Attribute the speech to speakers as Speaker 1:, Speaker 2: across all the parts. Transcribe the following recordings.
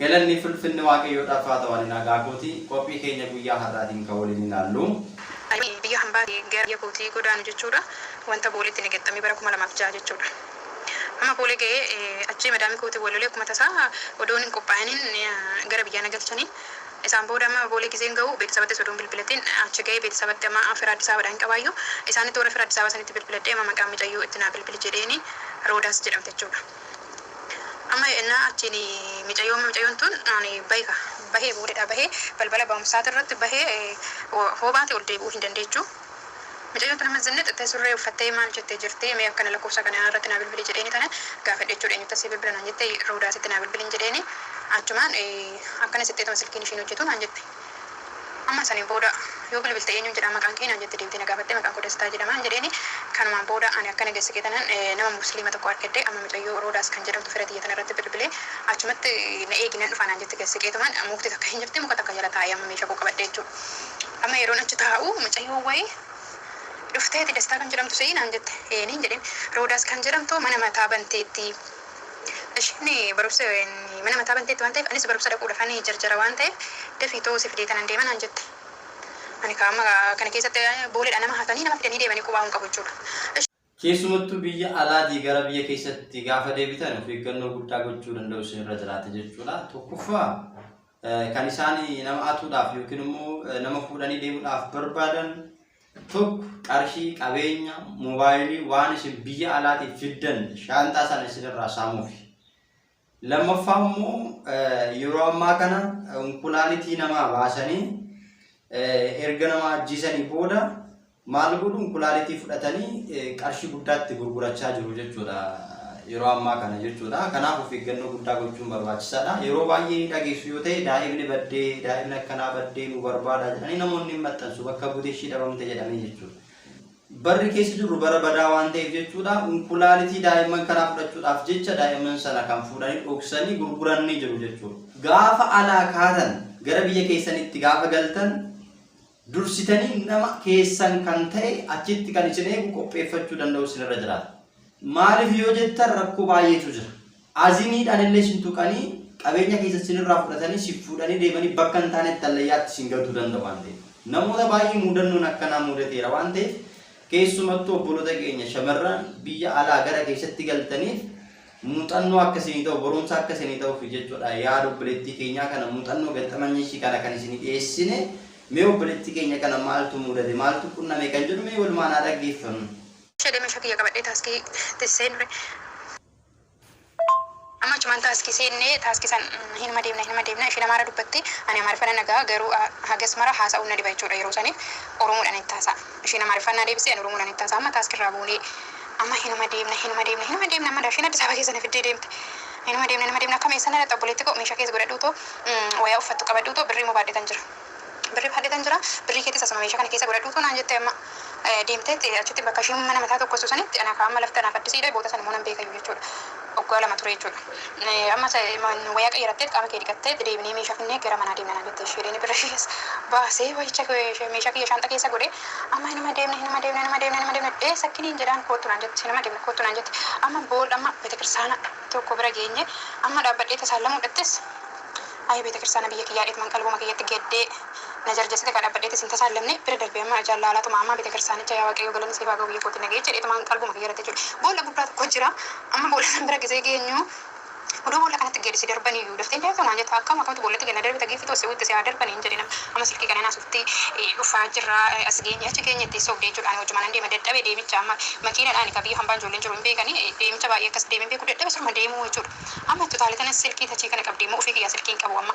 Speaker 1: Galanni fi ulfinni Waaqayyoodhaaf haa ta'u ani nagaa kooti qophii keenya guyyaa har'aatiin kan waliin ilaallu. Ani biyya
Speaker 2: hambaatii gara biyya kootii godaanu jechuudha. Wanta Booleetti na gexxame bara 2006 jechuudha. Amma Boolee ga'ee achii madaami kootiin wal lolee akkuma tasaa odoon hin qophaa'iniin gara biyyaa na galchanii. Isaan booda amma Boolee gizeen ga'u beetisabattis odoon bilbilatiin achi ga'ee beetisabatti amma fira Addis Ababadhaa hin qabaayyuu isaanitti warra fira Addis Ababa sanitti bilbiladhee amma maqaan micayyoo itti naa bilbili jedheeni Roodaas jedhamti jechuudha. Amma yennaa achiin micayyoo micayyoon tun bahi ka, bahee boodadhaa bahee balbala ba'umsaati irratti bahee hoo baate ol deebi'uu hin dandeechu. Micayyoon tun amma zinnix jettee surree uffattee maal jette jirti mee akkana lakkoofsa kana irratti naa bilbili jedheeni tana gaafadhe jechuudha eenyuttan sii bilbila naan jette Roodaasitti naa bilbilin jedheeni achumaan akkanas jettee tuma silkiin ishiin hojjetu naan jette. Amman saniin booda yoo bilbilte eenyuun jedhaa maqaan kee naan jette deemtee na gaafatte maqaan koo Dastaa jedhamaan jedheeni kanumaan booda ani akkana geesse qeetanan nama mursiliima tokko arkedhe amma micayyoo Roodaas kan jedhamtu fira tiyya tanarratti bilbilee achumatti na eegi nan dhufaa naan jette geesse qeetumaan mukti takka hin jirti muka takka jala taa'e amma meesha koo qabadhe jechuu amma yeroon achi taa'u mucayyoon wayii dhufteeti Dastaa kan jedhamtu si'i naan jette eeni hin jedheen Roodaas kan jedhamtu mana mataa banteetti Isheen barumsa mana mataa banteetti waan ta'eef anis barumsa dhaquudhafan jarjara waan ta'eef dafii too si fidee tanan deema naan jette. Ani kaa amma kana keessatti booleedha nama hatanii nama fidanii deemanii qubaa hin qabu jechuudha. Keessumattuu biyya
Speaker 1: alaatii gara biyya keessatti gaafa deebitan of eeggannoo guddaa gochuu danda'u isinirra jiraata jechuudha. Tokkoffaa. Kan isaan nama atuudhaaf yookiin immoo nama fuudhanii deemuudhaaf barbaadan tokko qarshii, qabeenya, moobaayilii waan isin biyya alaatiif fiddan shaanxaa sana isinirraa saamuuf. Lammaffaa immoo yeroo ammaa kana unkulaalitii namaa baasanii erga nama ajjeesanii booda Maal godhuun kulaalitii fudhatanii qarshii guddaa itti gurgurachaa jiru jechuudha yeroo ammaa kana jechuudha. Kanaaf of eeggannoo guddaa gochuun barbaachisaadha. Yeroo baay'ee ni dhageessu yoo ta'e daa'imni baddee daa'imni akkanaa baddee nu barbaada jedhanii namoonni hin maxxansu bakka buute ishii dhabamte jedhamee jechuudha. Barri keessa jirru bara badaa waan ta'eef jechuudha kulaalitii daa'imman kanaa fudhachuudhaaf jecha daa'imman sana kan fuudhanii dhoksanii gurguranii jiru jechuudha. Gaafa alaa kaatan gara biyya keessanitti gaafa galtan Dursitanii nama keessan kan ta'e achitti kan isin eegu qopheeffachuu danda'u isin irra jiraata. Maaliif yoo jettan rakkoo baay'eetu jira. Azimiidhaan illee isin tuqanii qabeenya keessa isin irraa fudhatanii si fuudhanii deemanii bakka hin taanetti hallayyaatti isin galtuu danda'u waan ta'eef. Namoota baay'ee muudannoon akkanaa muudateera waan ta'eef keessumattuu obboloota keenya shamarran biyya alaa gara keessatti galtaniif Muuxannoo akka isinii ta'u, barumsa akka isinii ta'uuf jechuudha. Yaada obboleettii keenyaa kana, muuxannoo gaxxamanya ishii kana kan isinii dhiyeessine. Mee obboleettii keenya kana maaltu muudate, maaltu qunname kan jedhu mee walumaan haa dhaggeeffannu. Shade mesha kiyya
Speaker 2: qabadhe taski ti senre amma achuman taski senne taski san hinuma deemna hinuma deemna ishin amara dubbatti ani amariffa nan dhaga'a garuu hagas mara haasa'un na dhiba jechuudha yeroo sanif oromodhan itti hasa'a. Ishiin Amaariffaan naa deebiste, ani Oromoodhaan itti haasa'aa. Amma taask irraa buunee amma hinuma deemna, hinuma deemna, hinuma deemna amma daashiin Addis Ababa keessa na fiddee deemte. Hinuma deemna, hinuma deemna akkam eessa na dhaqxa obboleetti koo meeshaa kees godhadhuutoo wayaa uffattu qabadhuutoo birrii immoo baadhetan jira. Birrii baadhetan jira, birrii keetis asuma meeshaa kana keessa godhadhuutoo naan jette amma deemteetti achitti bakka ishiin mana mataa tokkostu sanitti ana kaa amma lafti anaaf addisiidha boota sana immoo nan beekayyuu jechuudha. Waggaa lama ture jechuudha. Ammas wayaa qayyarattee qaama kee dhiqattee itti deebinee meeshaa finnee gara manaa deemna naan jette isheen. Inni birra ishees baasee wayicha meeshaa kiyya shaanxa keessa godhee amma hinuma deemna hinuma deemna hinuma deemna hinuma deemna ee sakkiniin jedhaan koottu naan jette hinuma deemna koottu naan jette amma boolla amma beetakirsaana tokko bira geenye amma dhaabbadhee tasaan lamuu dhattis ayi beetakirsaana biyya kiyyaa dheetman qalbuma kiyyatti gaddee Na jarjesite ka dhabbadhee te sin tasaallamne bira darbee amma ajaan laalaa tuma ammaa betekirsaanicha yaa waaqayyoo galanni siif haa ga'u biyya kootiin na ga'e jedhee tumaan qalbuma kiyya irratti jechuudha boolla guddaa tokko jira amma boolla san bira gesee geenyu udoo boolla kanatti gadi si darbanii iyyuu daftee hin deemtuu naan jetta akkam akamtu boollatti gad na darbita giiffitu asii utti si haa darban hin jedhin amma silkii kanaan asufti dhufaa jirra as geenye achi geenye itti sobde jechuudha ani wajjumanan deema dadhabe deemicha amma makiinadhaani ka biyya hambaan ijoolleen jiru hin beekani deemicha baay'ee akkas deeme hin beeku dadhabe siruma deemuu jechuudha amma itti utaalee tanas silkii tachii kana qabdee immoo ufii kiyyaa silkii hin qabu amma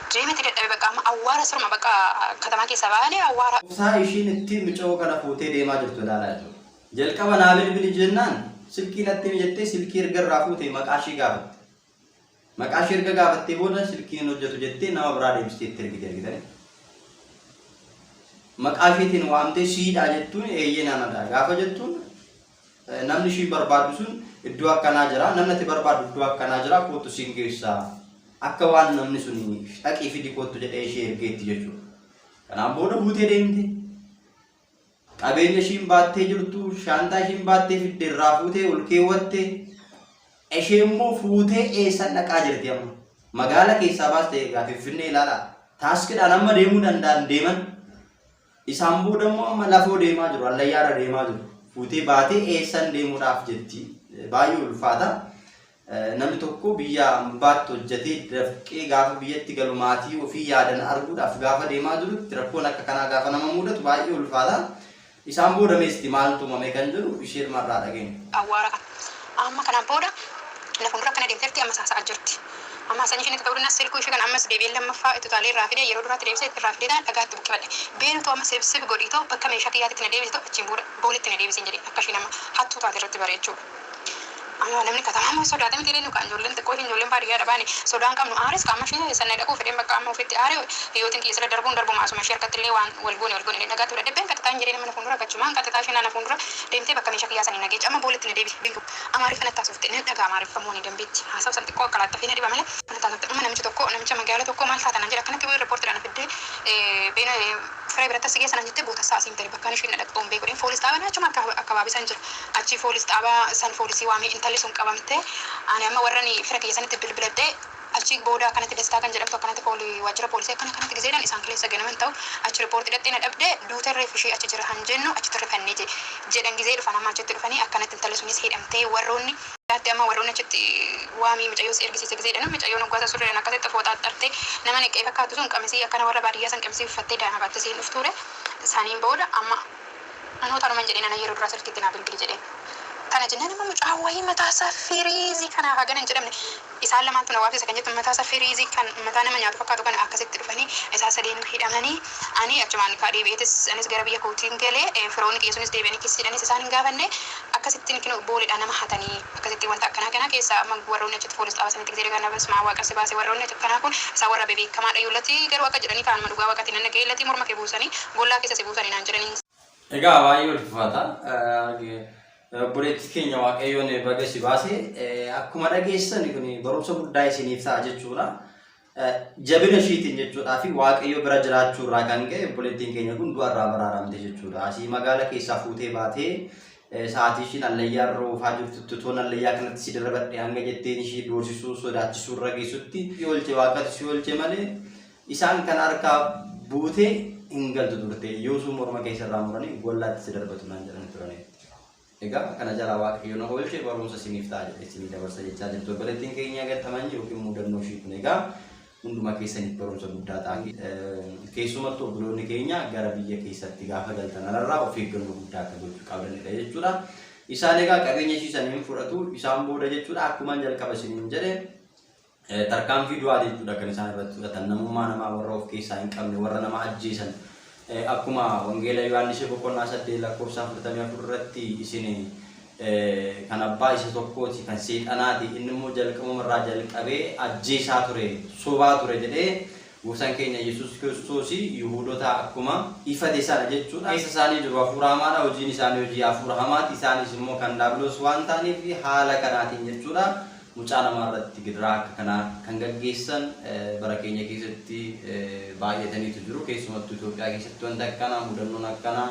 Speaker 2: Jee miti dadhabe baqa
Speaker 1: amma
Speaker 2: awwaara
Speaker 1: siruma baqa
Speaker 2: katamaa keessa
Speaker 1: baale awwaara. Obsaa ishiin ittiin mucayoo
Speaker 2: kana
Speaker 1: fuutee deemaa
Speaker 2: jirtu
Speaker 1: ilaalaa
Speaker 2: jiru.
Speaker 1: Jalqaba naa bilbili jennaan silkii natti himi jettee silkii erga irraa fuute maqaa ishii gaafatte. Maqaa ishii erga gaafattee booda silkiin hin hojjetu jettee nama biraa deebistee itti ergite argitanii. Maqaa ishiitiin waamtee siidhaa jettuun eeyyeen anadha gaafa jettuun Namni ishii barbaaddu sun iddoo akkanaa jira, namni ati barbaaddu iddoo akkanaa jira, koottu siin geessa. Akka waan namni sun dhaqii fidi koottu jedhee ishee ergeetti jechuudha. Kanaan booda buutee deemte. Qabeenya ishiin baattee jirtu, shaantaa ishiin baattee fidde irraa fuutee ol keewwatte. Ishee immoo fuutee eessan dhaqaa jirti amma. Magaala keessaa baastee egaa Finfinnee ilaalaa. Taaskidhaan amma deemuu danda'an deeman. Isaan booda immoo amma lafoo deemaa jiru, hallayyaarra deemaa jiru. Fuutee baatee eessan deemuudhaaf jetti. Baay'ee ulfaata. Namni tokko biyya ambaatti hojjetee dafqee gaafa biyyatti galu maatii ofii yaadan arguudhaaf gaafa deemaa jirutti rakkoon akka kanaa gaafa nama mudatu baay'ee ulfaata. Isaan booda meesti maaltu uumame kan jedhu isheermarraa dhageenya. Awwaara
Speaker 2: Amma kana booda na fuuldura akkana deemteerti, ammas haasa'aa jirti. Amma haasaan ishiin itti ta'uu danda'a, silkuu ishii kana ammas deebi'ee lammaffaa itti utaalee irraa fidee yeroo duraatti deebisee irraa fideetaan dhagaa itti buqqifadhe. Beenu too amma sebseb godhii too bakka meeshaa kiyyaatitti na deebisi too achiin booda booletti na deebisiin jedheen akka ishiin amma hattuu taate irratti bare jechuudha. Amma namni katamaa immoo sodaata miti ree nu kaan ijoolleen xiqqoo ishiin ijoolleen baadiyyaadha baane sodaan qabnu aares kaa amma ishii eessa na dhaquu fedheen bakka amma ofitti aare hiyyootiin kiyya sila darbuun darbuma asuma ishii harkatti illee waan wal goone wal goone jedheen dhagaatti fudhadhee been qaxaxaa hin jedheen amma na fuuldura qachumaan qaxaxaa isheen na fuuldura deemtee bakka meesha kiyyaa sanii na geecha amma boollatti na deebisi bintu amaariffa natti haasofte nan dhaga'a amaariffa moo ni danbeetti haasawu san xiqqoo qalaxxafee na dhiba malee natti haasofte amma namichi tokko namicha magaala tokko maal taata naan jedhe akkanatti wayii reportidha na fiddee beena firee biratti as si geessa naan jettee bootassaa asiin tari bakkaan ishiin na dhaqxu hin beeku jedheen foolis xaabaa na achuma akka akkabaabee san jira achii foolis xaabaa san foolisii waamee intalli sun qabamtee ani amma warrani fira kiyya sanitti bilbiladhee Achi booda akkanatti Dastaa kan jedhamtu akkanatti pooli waajjira poolisii akkana akkanatti gizeedhan isaan kaleessa ganama hin ta'u achi report dhaqxe na dhabde duute reeffi ishii achi jira han jennu achitti rifannee je jedhan gizee dhufan amma achitti dhufanii akkanatti intalli sunis hidhamtee warroonni Ati amma warroonni achitti waamii micayyoo si ergisiisa gizee jedhanu micayyoon hoggaa san surreedhan akkasitti fooxaa axxarte nama neqqee fakkaattu sun qamisii akkana warra baadiyyaa san qamisii uffattee daa'ima baattee isiin dhuftuure saniin booda amma anoo tanuman jedheen ana yeroo duraa silkiitti naa bilbili jedheen tana jennaan amma mucaa wayii mataa isaa firiizii kanaaf hagana hin jedhamne Isaan lamaan tun awaabsisa kan jettu mataa isaa firiizii kan mataa nama nyaatu fakkaatu kana akkasitti dhufanii isaan sadeenuu hidhamanii ani achumaan kaa deebi'eetis anis gara biyya kootiin gale firoonni kiyya sunis deebi'anii kissiidhanis isaan hin gaafanne akkasittiin kinoo booleedhaa nama hatanii akkasittiin wanta akkanaa kanaa keessaa amma warroonni achitti foolis xaaba sanitti gizee dhagaan dhaabas maa waaqa si baase warroonni achi akkanaa kun isaan warra bebeekamaa dhayu lati garuu akka jedhanii kaa anuma dhugaa waqatiin nan dhaga'ee lati morma kee buusanii bollaa keessa si buusanii naan jedhanii. Egaa baay'ee
Speaker 1: ulfaata. Obboleettii keenya Waaqayyoon baga si baase akkuma dhageessan kun barumsa guddaa isiniif ta'a jechuudha. Jabina ishiitiin jechuudhaa fi Waaqayyo bira jiraachuu irraa kan ka'e obboleettiin keenya kun du'a irraa baraaramte jechuudha. Asii magaala keessaa fuutee baatee sa'aatii ishiin allayyaa irra oofaa jirtutti toon allayyaa kanatti si darbadhe hanga jetteen ishii doorsisuu sodaachisuu irra geessutti si oolche waaqatti si oolche malee Isaan kana harkaa buutee hin galtu turte yoosuu morma kee sirraa muranii gollaatti si darbatu naan jedhanii turanii. Egaa kana jalaa waaqayyo na oolche barumsa isiniif ta'a jedhe isinii dabarsa jechaa jirtu obboleettiin keenya gattamanyi yookiin mudannoo ishii kun egaa hunduma keessaniif barumsa guddaa ta'a. Keessumattu obboloonni keenya gara biyya keessatti gaafa galtan alarraa of eeggannoo guddaa akka gochuu qabdanidha jechuudha. Isaan egaa qabeenya ishii saniin fudhatu isaan booda jechuudha akkuma jalqaba isiniin jedhe Tarkaanfii du'aa jechuudha kan isaan irratti fudhatan namummaa namaa warra of keessaa hin qabne warra nama ajjeesan akkuma wangeela Yohaannisee boqonnaa saddeet lakkoofsa afurtamii afur irratti isin kan abbaa isa tokkooti kan seexanaati inni immoo jalqabuma irraa jalqabee ajjeesaa ture sobaa ture jedhee Gooftaan keenya Yesuus Kiristoos Yihuudotaa akkuma. ifate sana jechuudha. Keessa isaanii jiru hafuura hamaadha, hojiin isaanii hojii hafuura hamaati, isaanis immoo kan daabiloos waan ta'aniif haala kanaatiin jechuudha mucaa namaa irratti gidiraa akka kanaa kan gaggeessan bara keenya keessatti baay'ataniitu jiru. Keessumattuu Itoophiyaa keessatti wanti akkanaa, mudannoon akkanaa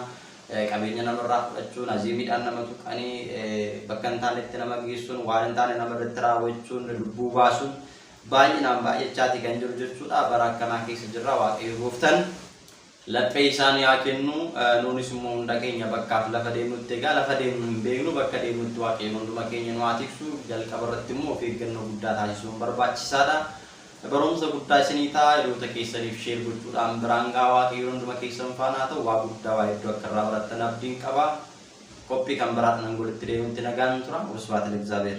Speaker 1: qabeenya namarraa fudhachuun, azeemiidhaan nama tuqanii bakka hin taanetti nama geessuun, waan hin taane nama irratti raawwachuun, lubbuu baasuun baay'inaan baay'achaati kan jiru jechuudha. Bara akkanaa keessa jirra Waaqayyo gooftan laphee isaa nu yaa kennu nuunis immoo hunda keenya bakkaaf lafa deemnutti egaa lafa deemnu hin beeknu bakka deemnutti Waaqayyo hunduma keenya nu haa tiksu jalqaba irratti immoo of eeggannoo guddaa taasisuun barbaachisaadha. Barumsa guddaa isinii ta'a hiriyoota keessaniif sheer gochuudhaan biraan gahaa Waaqayyo hunduma keessan faana haa ta'u waa guddaa waa hedduu akka irraa barattan abdiin qaba. Qophii kan biraadhaan walitti deebinutti nagaan tura. Wasbaata Lexaabeer.